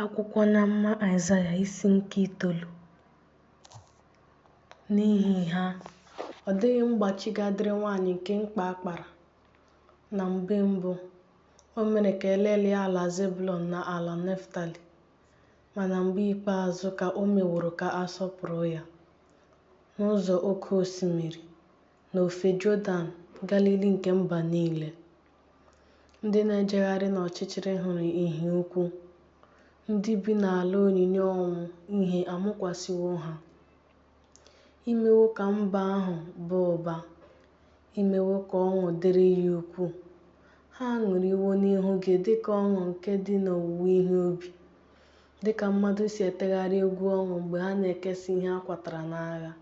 Akwụkwọ n'amụma Aịzaya isi nke itoolu n'ihi ha ọ dịghị mgbachi ga-adịrị nwaanyị nke mkpa akpara na mgbe mbụ o mere ka e lelịa ala Zebulọn na ala Neftali ma na mgbe ikpeazụ ka o meworo ka a sọpụrụ ya n'ụzọ oke osimiri n'ofe Jọdan, Galili nke mba niile. Ndị na-ejegharị n'ọchịchịrị hụrụ ìhè ukwu, ndị bi n'ala onyinyo ọnwụ ìhè amụkwasịwo ha. I mewo ka mba ahụ baa ụba, i mewo ka ọṅụ dịrị ya ukwuu. Ha aṅụrịwo n'ihu gị dị ka ọṅụ nke dị n'owuwe ihe ubi, dị ka mmadụ si etegharị egwu ọṅụ mgbe ha na-ekesa ihe a kwatara n'agha.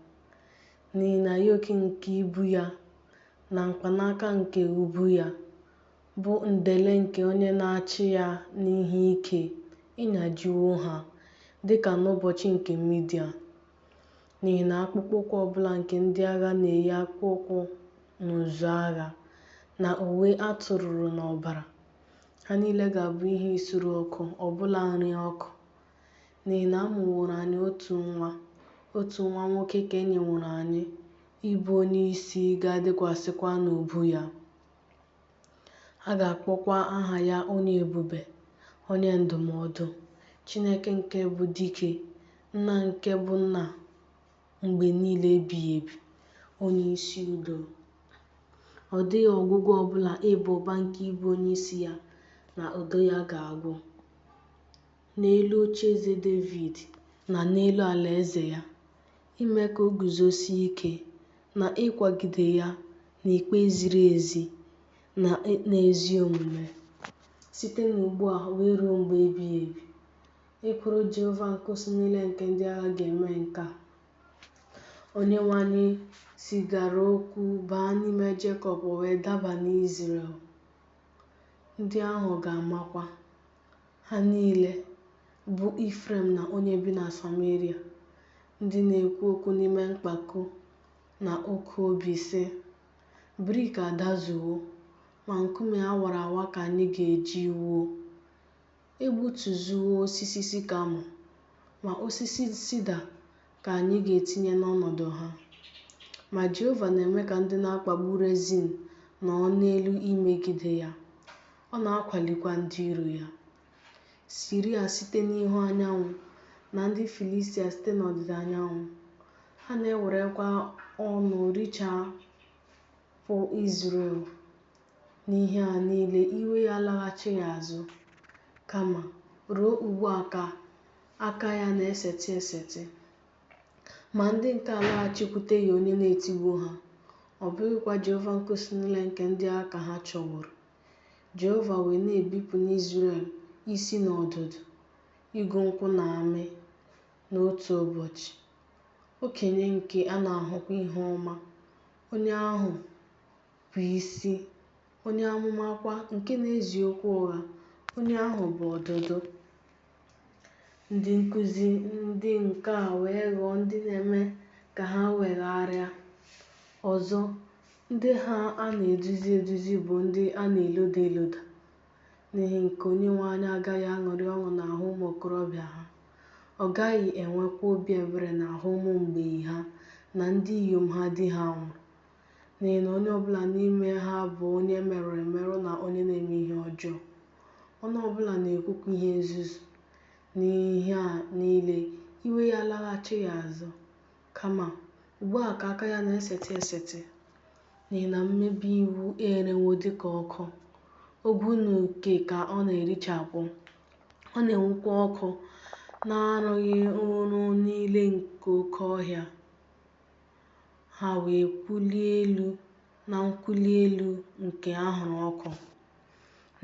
n'ihi na yok nke ibu ya na mkpanaka nke ubu ya bụ ndele nke onye na-achị ya n'ihe ike ị nyajiwo ha, dị ka n'ụbọchị nke Midian. N'ihi na akpụkpọ ụkwụ ọ bụla nke ndị agha na-eyi akpụkpọ ụkwụ n'ụzụ agha, na uwe a tụrụrụ n'ọbara, ha niile ga-abụ ihe isuru ọkụ, ọbụna nri ọkụ n'ihi na a mụworo anyị otu nwa, otu nwa nwoke ka e nyeworo anyị, ịbụ onye isi ga-adịkwasịkwa n'ubu ya. A ga-akpọkwa aha ya Onye Ebube, Onye Ndụmọdụ, Chineke nke bụ Dike, Nna nke bụ Nna mgbe niile ebighị ebi, Onye Isi Udo. Ọ dịghị ọgwụgwụ ọ bụla ịba ụba nke ịbụ onye isi ya na udo ya ga-agwụ. n'elu ocheeze Devid na n'elu alaeze ya, ime ka o guzosie ike, na ịkwagide ya n'ikpe ziri ezi na n'ezi omume, site n'ugbu a wee ruo mgbe ebighị ebi. Ekworo Jehova nke usuu niile nke ndị agha ga-eme nke a. Onyenwe anyị zigara okwu baa n'ime Jekọb o wee daba n'Izrel. Ndị ahụ ga-amakwa. Ha niile, bụ Ifrem na onye bi na Sameria, ndị na-ekwu okwu n'ime mpako na oke obi sị, Brik adazuwo, ma nkume a wara awa ka anyị ga-eji wuo. E gbutuzuwo osisi sikamọ, ma osisi sida ka anyị ga-etinye n'ọnọdụ ha. Ma Jehova na-eme ka ndị na-akpagbu Rezin nọọ n'elu imegide ya, Ọ na-akwalikwa ndị iro ya, Siria site n'ihu anyanwụ na ndị Filistia site n'ọdịda anyanwụ. Ha na-ewerekwa ọnụ richapụ Izrel n'ihe a niile, iwe ya alaghachighị azụ, kama ruo ugbu a ka aka ya na-esetị esetị. Ma ndị nke a alaghachikwuteghị onye na-etigbu ha, ọ bụghịkwa Jehova nke usuu niile nke ndị agha ka ha chọworo. Jehova wee na-ebipụ n'Izrel isi na ọdụdụ, igu nkwụ na amị, n'otu ụbọchị. Okenye nke a na-ahụkwa ihu ọma, onye ahụ bụ isi, onye amụma kwa nke na-ezi okwu ụgha, onye ahụ bụ ọdụdụ. Ndị nkụzi ndị nke a wee ghọọ ndị na-eme ka ha wegharịa. Ọzọ, ndị ha a na-eduzi eduzi bụ ndị a na-eloda eloda. N'ihi nke a Onyenwe anyị agaghị aṅụrị ọṅụ n'ahụ ụmụ okorobịa ha. Ọ gaghị enwekwa obi ebere n'ahụ ụmụ mgbei ha na ndị inyom ha di ha nwụrụ, n'ihi na onye ọbụla n'ime ha bụ onye e merụrụ emerụ na onye na-eme ihe ọjọọ. Ọnụ ọbụla na-ekwukwa ihe nzuzu. N'ihe a niile, iwe ya alaghachighị azụ, kama, ugbu a ka aka ya na-esetị esetị, n'ihi na mmebi iwu erewo dị ka ọkụ, ogwu na uke ka ọ na-erichapụ, ọ na-enwukwa ọkụ n'arụghụrụ niile nke oke ọhịa. ha wee kwụlie elu na nkwụli elu nke anwụrụ ọkụ.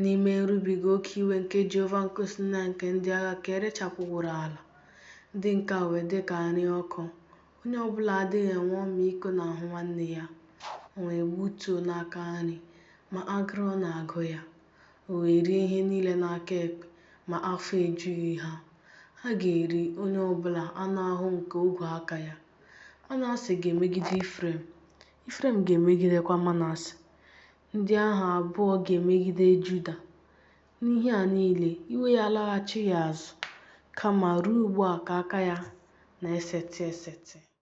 N'ime nrubiga oke iwe nke Jehova nke usuu niile nke ndị agha ka e rechapụworo ala, ndị nke a wee dị ka nri ọkụ. Onye ọ bụla adịghị enwe ọmịiko n'ahụ nwanne ya, o wee gbutuo n'aka nri, ma agụrụ na-agụ ya, o wee rie ihe niile n'aka ekpe, ma afọ ejughị ha. Ha ga-eri onye ọ bụla anụ ahụ nke ogwe aka ya. Manase ga-emegide Ifrem, Ifrem ga-emegidekwa Manase. Ndị ahụ abụọ ga-emegide Juda. N'ihe a niile, iwe ya alaghachighị azụ, kama ruo ugbu a ka aka ya na-esetị esetị.